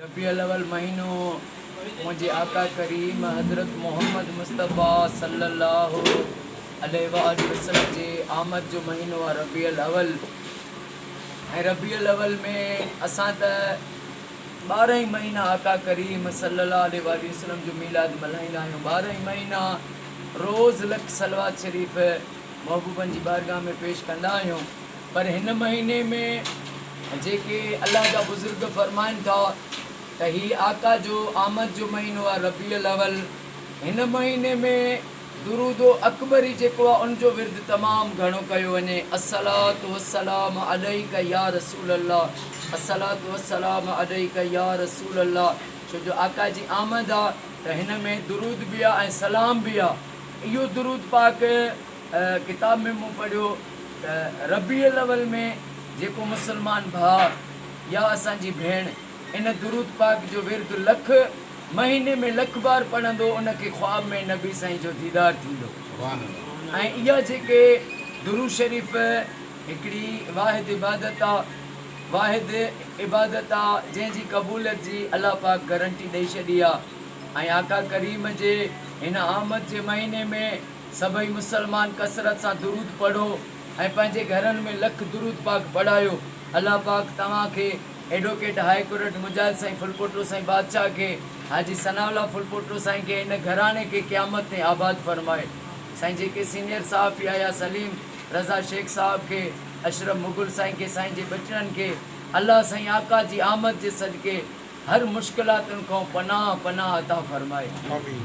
ربيع الاول مهينو منهنجي آقا ڪريم حضرت محمد مصطفيٰ صلّي الله عليه واٰله وسلّم جي آمد جو مهينو آهي ربيع الاول ۽ ربيع الاول ۾ اسان ته ٻارهن ئي مهينا آقا ڪريم صلّي الله عليه واٰله وسلّم جو ميلاد ملهائيندا آهيون ٻارهن ئي مهينا روز لک صلّوات شريف محبوبن جي بارگاهه ۾ پيش ڪندا آهيون پر هن مهيني ۾ جيڪي الله جا بزرگ فرمائن ٿا ته هي آقا جو آمد جو مهينو آهي ربيع الاول هن مهيني ۾ درود اڪبري جيڪو آهي ان جو ورد تمام گهڻو ڪيو وڃي الصلوة والسلام عليک يا رسول الله الصلوة والسلام عليک يا رسول الله ڇو جو آقا جي آمد آهي ته هن ۾ درود به آهي ۽ سلام به آهي اهو درود پاڪ ڪتاب ۾ مون پڙهيو ته ربيع الاول ۾ جيڪو مسلمان ڀاء يا اسان جي ڀيڻ ان درود پاڪ جو ورد لک مهيني ۾ لک بار پڙهندو ان کي خواب ۾ نبي سائين جو ديدار ٿيندو ۽ اها جيڪي درود شريف هڪڙي واحد عبادت آ واحد عبادت آ جنهن جي قبوليت جي الله پاڪ گرنٽي ڏئي ڇڏي آ ۽ آقا ڪريم جي هن آمد جي مهيني ۾ سڀئي مسلمان ڪثرت سان درود پڙهو ۽ پنهنجي گهرن ۾ لک درود پاڪ پڙهايو الله پاڪ توهان کي ايڊوڪيٽ هاء ڪورٽ مجاهد سائين ڦلپوٽو سائين بادشاهه کي حاجي ثناء الله ڦلپوٽو سائين کي هن گهراڻي کي قيامت تائين آباد فرمائي سائين جيڪي سينئر صحافي آيا سليم رضا شيخ صاحب کي اشرف مغل سائين کي سائين جي ٻچڙن کي الله سائين آقا جي آمد جي صدقي هر مشڪلاتن کان پناهه پناهه عطا فرمائي آمين.